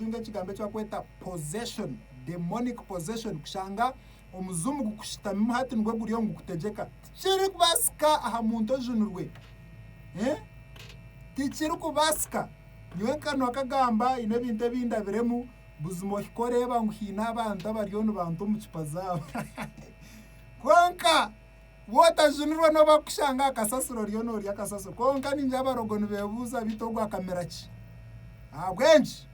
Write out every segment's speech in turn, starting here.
kutunga ekigambo eki barikweta possession, demonic possession, kushanga omuzimu gukushutamimu hati nigwo guriyo nigukutegyeka. Tikirikubaasika aha muntu ojunirwe. Eh? Tikirikubaasika. Nyowe nkanwa kagamba haine ebintu ebindabiremu buzima ohika oreeba ngu haine abantu abariyo nibanta omu cupa zaabo. Kwonka Bwotajunirwe n'obu akushanga akasasiro oriyo norya akasasiro. Kwonka ningira abarogo nibebuuza beitu ogu akamira ki? Ahabw'enki?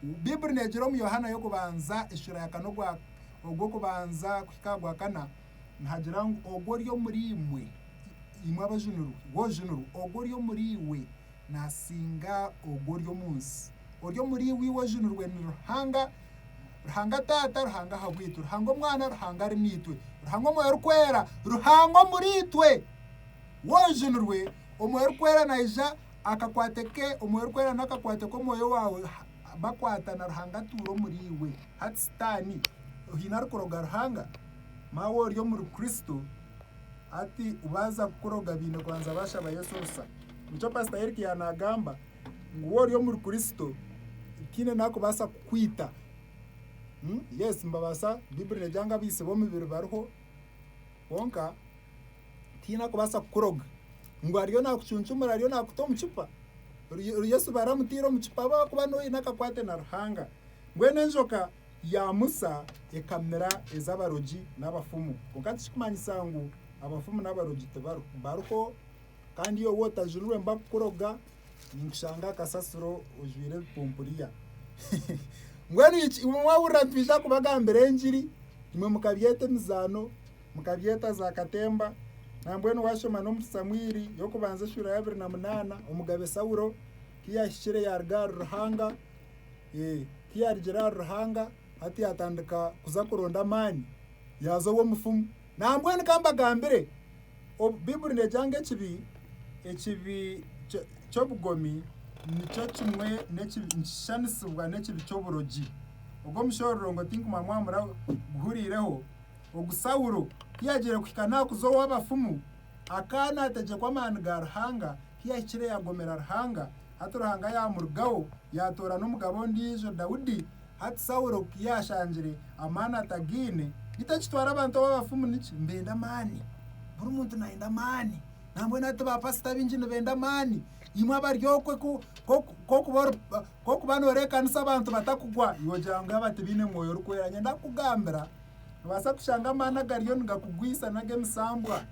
Bibuli negira omu Yohana y'okubanza eshura ya kana ogwa ogw'okubanza kuhika aha gwa kana nihagira ngu ogwo ori omuri imwe imwe abajunirwe we ojunirwe ogwo ori omuri iwe nasinga ogwo ori omu nsi. Ori omuri iwe iwe ojunirwe ni Ruhanga. Ruhanga Taata, Ruhanga ahabwitwe, Ruhanga Omwana, Ruhanga ari naitwe, Ruhanga Omwoyo Orikwera, Ruhanga omuriitwe. Wojunirwe, Omwoyo Orikwera naija akakwate ke, Omwoyo Orikwera nakakwate k'omwoyo waawe bakwatana Ruhanga atuura omuriiwe. Hati sitaani ohaine arikuroga Ruhanga? Maawe ori omuri Kristo hati baaza kukuroga baine kubanza baashaba Yesu orusa. Nikyo Pastor Eric yaanagamba. Ngu we ori omuri Kristo, nkaine nakubaasa kukwita. Yes mbabaasa, Baiburi negira ngu abaitsire b'omubiri bariho, kwonka tihaine arikubaasa kukuroga ngu ariyo nakucuncumura ariyo nakuta omu kipa, Yesu baramutaire omu kipa ahabw'okuba niwe oine akakwate na Ruhanga. Mbwenu enjoka ya Musa ekamira ez'abarogi n'abafumu, kwonka tikirikumanyisa ngu abafumu n'abarogi tibariho, bariho. Kandi yowe otajururwe mba kukuroga ninkushanga aha kasasiro ojwire ebipumpuriya mbwenu iki imwe mwahurira nitwija kubagambira engiri imwe mukabyeta emizaano mukabyeta za katemba nambwenu washoma n'omuri samwiri y'okubanza eshuura y'abiri na munaana omugabe sawulo ku yahikire yaaruga ahari ruhanga ku yaarugire ahari ruhanga hati yaatandika kuza kuronda amaani yaaza ow'omufumu Nambwenu ka mbagambire, obu Baiburi neegira ngu ekibi, ekibi kyo- ky'obugomi nikyo kimwe n'ekibi, nikishushaniisibwa n'ekibi ky'oburogi. Ogwo mushororongo ngu tinkumanya mwaba muraguhuriireho, ogu Saulo ku yaagiire kuhika naakuza ow'abafumu, akaba naategyekwa amaani ga Ruhanga, ku yahikire yaagomera Ruhanga, hati Ruhanga yaamurugaho, yaatoorana omugabe ondiijo Daudi. Hati Saulo ku yaashangire amaani atagaine, beitu akitwara abantu abo abafumu niki? Nibenda amaani. Buri muntu naayenda amaani. Nambwenu hati baapasita abaingi nibenda amaani. Imwe abari okwe ku okuba nooreekanisa abantu batakugwa, iwe ogira ngu aba tibaine mwoyo orikwera. Niinyenda kukugambira, noobaasa kushanga amaani agariyo nigakugwisa n'ag'emisambwa.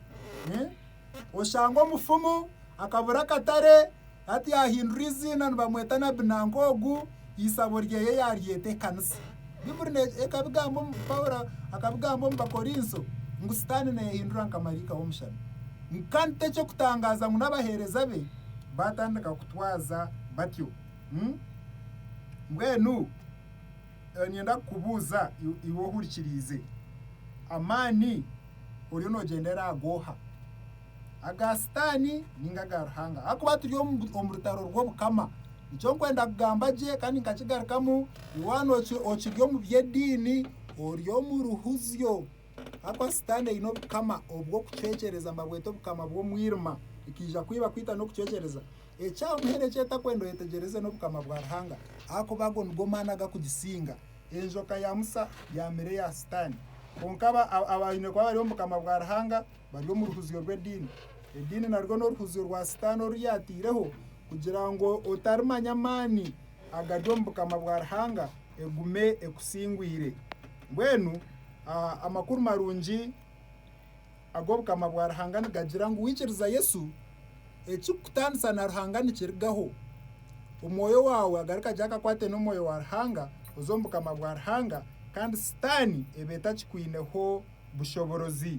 Oshanga omufumu akabura akatare hati yahindura eiziina nibamweta Nabi nanka ogu eisabo ryeye yaryeta ekanisa. Bibuli ne ekabigamba omu Paulo akabigamba omu Bakorinso ngu sitaane neyehindura nka maraika w'omushana. Kandi teky'okutangaaza ngu n'abaheereza be baatandika kutwaza batyo. Mbwenu. Niinyenda kukubuuza iwe ohurikiriize, amaani oriyo noogyendera aha gooha? Aga Sitaani nainga aga Ruhanga? Ahakuba turi omu rutaro rw'Obukama. Nikyo nkwenda kugamba gye kandi nkakigarukamu, iwe waaba okiri omu by'ediini, ori omu ruhuzyo. Ahakuba Sitaani aine obukama obw'okucwekyereza, mbabweta obukama bw'omwirima. Nikaija kwiba, kwita n'okucwekyereza. Ekyamuhaire ekyetakweenda oyetegyereze n'obukama bwa Ruhanga ahakuba ago nigo maani agakugisinga. Enjoka ya Musa yaamire ya Sitaani. Kwonka abaine kuba bari omu bukama bwa Ruhanga bari omu ruhuzyo rw'ediini. Ediini narwo n'oruhuzyo rwa Sitaani oru yaataireho kugira ngu otarimanya amaani agari omu bukama bwa Ruhanga egume ekusingwire. Mbwenu amakuru marungi. ag'Obukama bwa Ruhanga nigagira ngu waikiriza Yesu, ekirikukutaanisa na Ruhanga nikirigaho. Omwoyo waawe agaruka gye akakwate n'Omwoyo wa Ruhanga, oze omu Bukama bwa Ruhanga kandi Sitaani eba etakikwineho bushoborozi.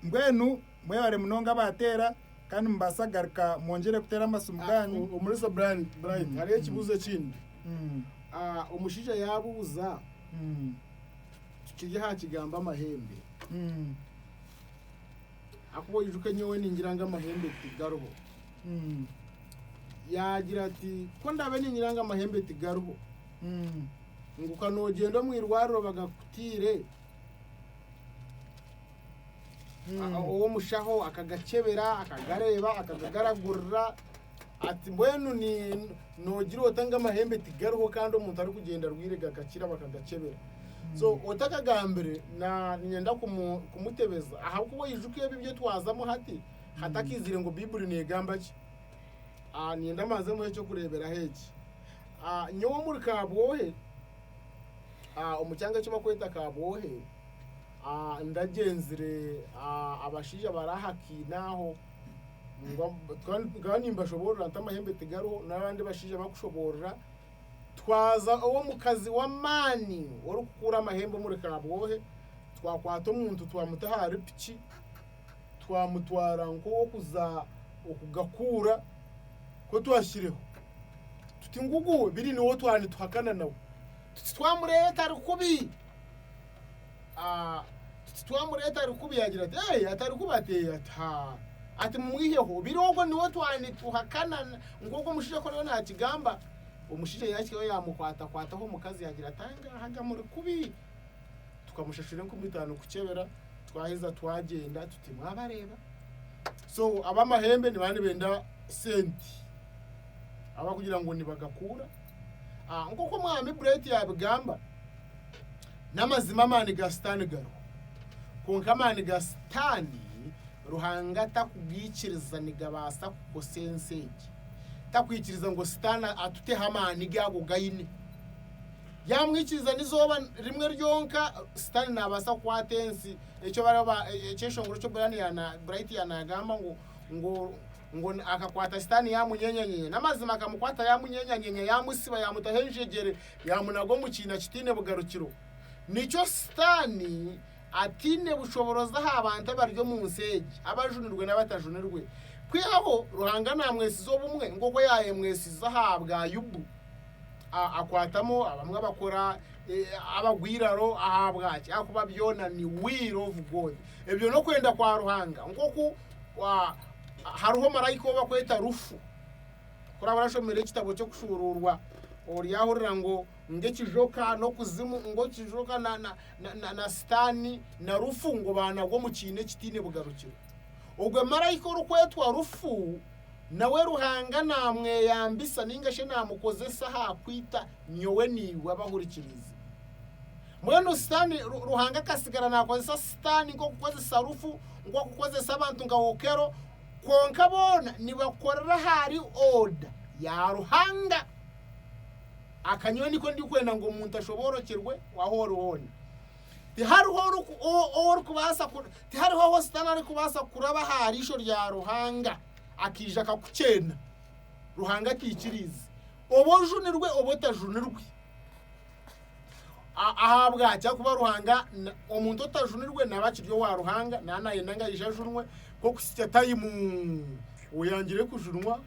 Mbwenu mwebare munonga abaateera kandi mubaasa kugaruka mwongyere kuteera amasimu gaanyu. Ah, Omurisa Brian, Brian, hariho ekibuuzo ekindi. Mm, Ah, omushaija yaabuuza, mm. Tukiri aha kigambo amahembe, ahakuba oijuke nyowe ningira ngu amahembe tigariho. Yaagira ati, ku ndabe ningira ngu amahembe tigariho, ngu ka noogyenda omu irwariro bagakutiire, a- ow'omushaho akagakyebera, akagareeba, akagagaragurira, Ati, Mbwenu noogira ota ngu amahembe tigariho kandi omuntu arikugyenda arwaire gakakira bakagakyebera? So otakagambire niinyenda kumutebeza ahabw'okuba oyijuka ebi ebi twazamu hati hatakaizire ngu Baiburi neegamba ki. Niinyenda mbanze muhe eky'okureeberaho eki. Nyowe omuri Kabwohe, omu kyanga eki barikweta Kabwohe, ndagyenzire abashaija abari aha kiina aho. nkaba nimbashoboorora nti amahembe tigariho n'abandi bashaija bakushoboorora twaza ow'omukazi w'amaani orikukuura amahembe omuri kabwohe twakwata omuntu twamuta ahari piki twamutwara nk'ow'okuza okugakuura ku twashireho tuti ngugu biri niwo twaba nituhakana nawe tuti twamureeta ari kubi Ah, Titi twamureeta ari kubi yagira ati, Ee, atari kubi ati, Ee, ati, Ha. Ati, Mumwiheho. Obiro obwo niwe twa nituhakana na- nk'oku omushaija akaba ariyo naakigamba. Omushaija yaahikayo yaamukwatakwataho omukazi yaagira ati, Angaahaga muri kubi. Tukamushashura enkumi itaano kukyebera, twaheza twagyenda tuti, Mwabareeba? So ab'amahembe nibaba nibenda sente abakugira ngu nibagakuura. Ah, Nk'oku Omwami Brett yaabigamba, N'amazima amaani ga Sitaani gariho. Kwonka amaani ga Sitaani Ruhanga takugaikiriza nigabaasa kukosa ensi egi. Takwikiriza ngu Sitaani atuteho amaani ge ago g'aine. Yaamwikiriza n'eizooba rimwe ryonka, Sitaani naabaasa kukwata ensi. Ekyo baraba eki eshongoro kya Brian yaana Bright yaana yagamba ngu ngu ngu akakwata Sitaani yaamunyenyanyeenya. N'amazima akamukwata yaamunyenyanyeenya, yaamutsiba, yaamutaho enjegyere, Yaamunaga omu kiina kitaine bugarukiro. Nikyo Sitaani ataine bushoboorozi aha bantu abari omu nsi egi, abajunirwe n'abatajunirwe. Kwihaho, Ruhanga naamwesiza obumwe nk'oku yaayemwesize aha bwa Yobu. A Akwatamu abamwe abakora e, abagwa eiraro. Ahabwaki? Ahakuba byona ni will of God. Ebyo n'okwenda kwa Ruhanga. Nk'oku a, hariho maraika ou bakweta Rufu. Kuraaba orashomera ekitabo ky'Okushuuruurwa, oryahurira ngu ngu ekijoka n'okuzimu, ngu ekijoka na, na, na, na, na Sitaani na Rufu ngu baanagwa omu kiina ekitaine bugarukiro. Ogwe marayika orikwetwa Rufu nawe Ruhanga naamweyambisa ninga shi naamukozesa aha kwita nyowe naiwe abahurikirizi. Mbwenu Sitaani, Ru- Ruhanga akasigara naakozesa Sitaani nk'okukozesa Rufu, nk'okukozesa abantu nka Okero, Kwonka boona nibakorera ahari oda ya Ruhanga. Aka nyowe niko ndikwenda ngu omuntu ashoboorokyerwe ahu ori hoona. Tihariho oriku- o- ou orikubaasa ku- tihariho ahu Sitaane arikubaasa kuraba aha riisho rya Ruhanga akaija akakukyena Ruhanga ataikiriize, oba ojunirwe oba otajunirwe. A- ahabwaki akuba ruhanga na- omuntu otajunirwe naba akiri owa ruhanga naaba nayenda ngu aije ajunwe kokusikya tayimu oyangire kujunwa